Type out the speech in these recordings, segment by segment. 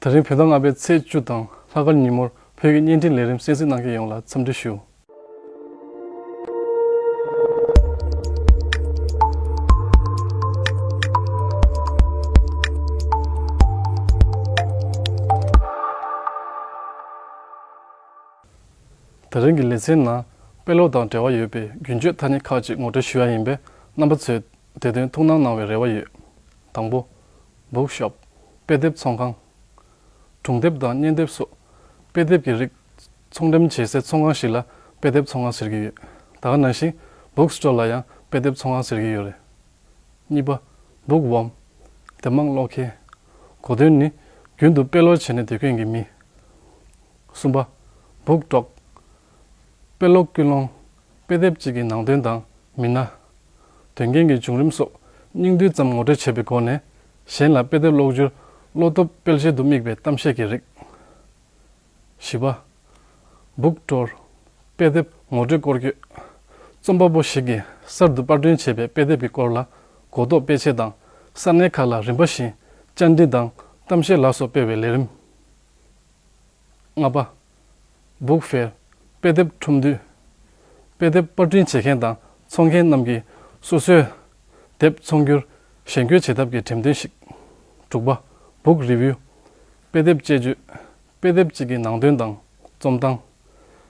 ད་རིང་བོད་ཟླ་ལྔ་པའི་ཚེས་བཅུ་དང་ལྷ་སྐར་ཉིན་མོར་བོད་ཀྱི་བརྙན་འཕྲིན་ལས་རིམ་གསན་གཟིགས་གནང་མཁན་ཡོངས་ལ་འཚམས་འདྲི་ཞུ། ད་རིང་གི་ལེ་ཚན་ནང་དཔེ་ཀློག་དང་འབྲེལ་བ་ཡོད་པའི་རྒྱུན་སྤྱོད་ཐ་སྙད་ཁག་ཅིག་ངོ་སྤྲོད་ཞུ་ཡ་ཡིན་པས་རྣམ་པ་ཚོས་དེ་དོན་ཐུགས་སྣང་གནང་བའི་རེ་བ་ཡོད། དང་པོ། Bookshop། དཔེ་དེབ་ཚོང་ཁང། གྲོང་དེབ་དང་བརྙན་དེབ་སོགས་དཔེ་དེབ་ཀྱི་རིགས་ཚོང་འགྲེམས་བྱེད་སའི་ཚོང་ཁང་ཞིག་ལ་དཔེ་དེབ་ཚོང་ཁང་ཟེར་གྱི་ཡོད། ད་ག་ནང་བཞིན Book Store ལ་ཡང་དཔེ་དེབ་ཚོང་ཁང་ཟེར་གྱི་ཡོད་རེད། གཉིས་པ། Book Worm། དེབ་མང་ཀློག་མཁན། གོ་དོན་ནི་རྒྱུན་དུ་དཔེ་ཀློག་བྱེད་ནས་བསྡད་མཁན་གྱི་མི། གསུམ་པ། Book Dog། དཔེ་ཀློག་ཀུན་སློང། དཔེ་དེབ་ཅིག་གི་ནང་དོན་དང་མི་སྣ། དོན་རྐྱེན་གྱི་བྱུང་རིམ་སོགས་སྙིང་བསྡུས་ཙམ་ངོ་སྤྲོད་བྱེད་པའི་སྒོ་ནས་གཞན་ལ་དཔེ་དེབ་ཀློག་རྒྱུར་བློ་སྟོབས་སྤེལ་བྱེད་དུ་དམིགས་པའི་གཏམ་བཤད་ཀྱི་རིགས། བཞི་པ། Book Tour། དཔེ་དེབ་ངོ་སྤྲོད་སྐོར་སྐྱོད། རྩོམ་པ་པོ་ཞིག་གིས་གསར་དུ་དཔར་སྐྲུན་བྱས་པའི་དཔེ་དེབ་ཀྱི་སྐོར་ལ་གོ་རྟོགས་སྤེལ་ཆེད་དང་ས་གནས་ཁག་ལ་རིམ་པ་བཞིན་བཅར་འདྲི་དང་གཏམ་བཤད་ལ་སོགས་སྤེལ་བའི་ལས་རིམ། ལྔ་པ། Book Fair། དཔེ་དེབ་ཁྲོམ་འདུས། དཔེ་དེབ་པར་སྐྲུན་བྱེད་མཁན་དང་འཚོང་མཁན་རྣམས་ཀྱིས་སོ་སོའི་དེབ་འཚོང་རྒྱུར་གཞན་སྐྱོད་བྱེད་ཐབས་ཀྱི་འགྲེམས་སྟོན་ཞིག། དྲུག་པ། Book Review། དཔེ་དེབ་དཔྱད་བརྗོད། དཔེ་དེབ་ཅིག་གི་ནང་དོན་དང་རྩོམ་སྟངས།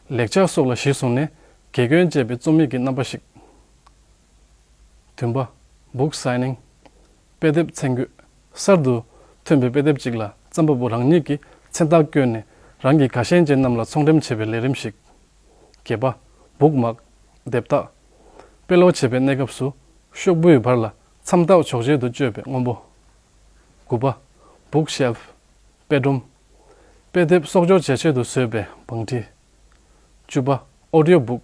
ལེགས་ཆ་སོགས་ལ་གཞི་བཟུང་ནས་དགེ་སྐྱོན་སྤྱད་པའི་རྩོམ་ཡིག་གི་རྣམ་པ་ཞིག། བདུན་པ། Book Signing། དཔེ་དེབ་ཚན་བརྒྱུད། གསར་དུ་ཐོན་པའི་དཔེ་དེབ་ཅིག་ལ་རྩོམ་པ་པོ་རང་ཉིད་ཀྱིས་མཚན་རྟགས་བཀོད་ནས་རང་གི་དགའ་ཞེན་ཅན་རྣམས་ལ་ཚོང་འགྲེམས་བྱེད་པའི་ལས་རིམ་ཞིག། གྱེས་པ། སྦུག་མག། སྡེབ་རྟགས། དཔེ་ཀློག་བྱེད་པའི་གནས་སྐབས་སུ། ཤོག་བུའི་བར་ལ་མཚམས་རྟགས་འཇོག་བྱེད་དུ་སྤྱོད་པའི་སྔོན་པོ། དགུ་པ། Book Shelf། དཔེ་སྒྲོམ། དཔེ་དེབ་གསོག་འཇོག་བྱེད་ཆེད་དུ་བཟོས་པའི་བང་ཁྲི། བཅུ་པ། Audio Book།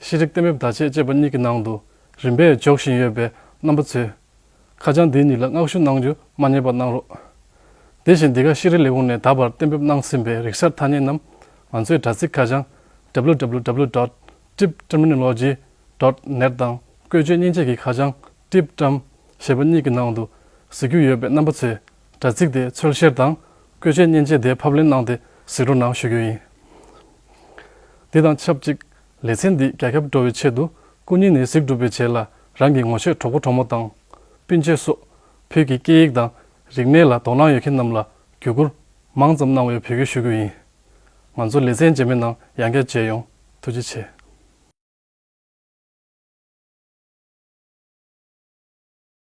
ཤེས་རིག་གཏན་འབེབས་བརྡ་ཆད་ཅེས་པ་གཉིས་ཀྱི་ནང་དུ་རིམ་པས་འཇོག་བཞིན་ཡོད་པའི་རྣམ་པ་ཚོས། ཁ་བྱང་འདི་གཉིས་ལ་བསྔགས་ཞུ་གནང་རྒྱུ་མ་རྙེད་པ་གནང་རོགས། དེ་བཞིན་འདི་ག་ཤེས་རིག་ལས་ཁུངས་ནས་ད་བར་གཏན་འབེབས་གནང་ཟིན་པའི་རིག་གསར་ཐ་སྙད་རྣམས་ང་ཚོའི་དྲ་ཚིགས་ཁ་བྱང། www dot tripterminology dot net དང་བཀོལ་སྤྱོད་སྙིང་རྗེ་ཀྱི་ཁ་བྱང། Tripterm། ཞེས་པ་གཉིས་ཀྱི་ནང་དུ་གཟིགས་རྒྱུ་ཡོད་པའི་རྣམ་པ་ཚོས་དྲ་ཚིགས་དེ་འཚོལ་བཤེར་དང་བཀོལ་སྤྱོད་མཉེན་ཆས་དེ་ཕབ་ལེན་གནང་སྟེ་གཟིགས་རོ་གནང་ཞུ་རྒྱུ་ཡིན། དེ་དང་ཆབས་ཅིག་ལེ་ཚན་འདིས་རྒྱ་ཁྱབ་འགྲོ་བའི་ཆེད་དུ་སྐུ་ཉིད་ནས་གཟིགས་སྒྲུབ་པའི་རྗེས་ལ་རང་གི་ངོ་ཤེས་གྲོགས་པོ་གྲོགས་མོ་དང། སྤུན་མཆེད་སོགས་བོད་ཀྱི་སྐད་ཡིག་དང་རིག་གནས་ལ་དོ་སྣང་ཡོད་མཁན་རྣམས་ལ་བརྒྱུད་བསྐུར་མང་ཙམ་གནང་བའི་འབོད་སྐུལ་ཞུ་རྒྱུ་ཡིན། ང་ཚོ་ལེ་ཚན་རྗེས་མའི་ནང་ཡང་བསྐྱར་མཇལ་ཡོང་ཐུགས་རྗེ་ཆེ།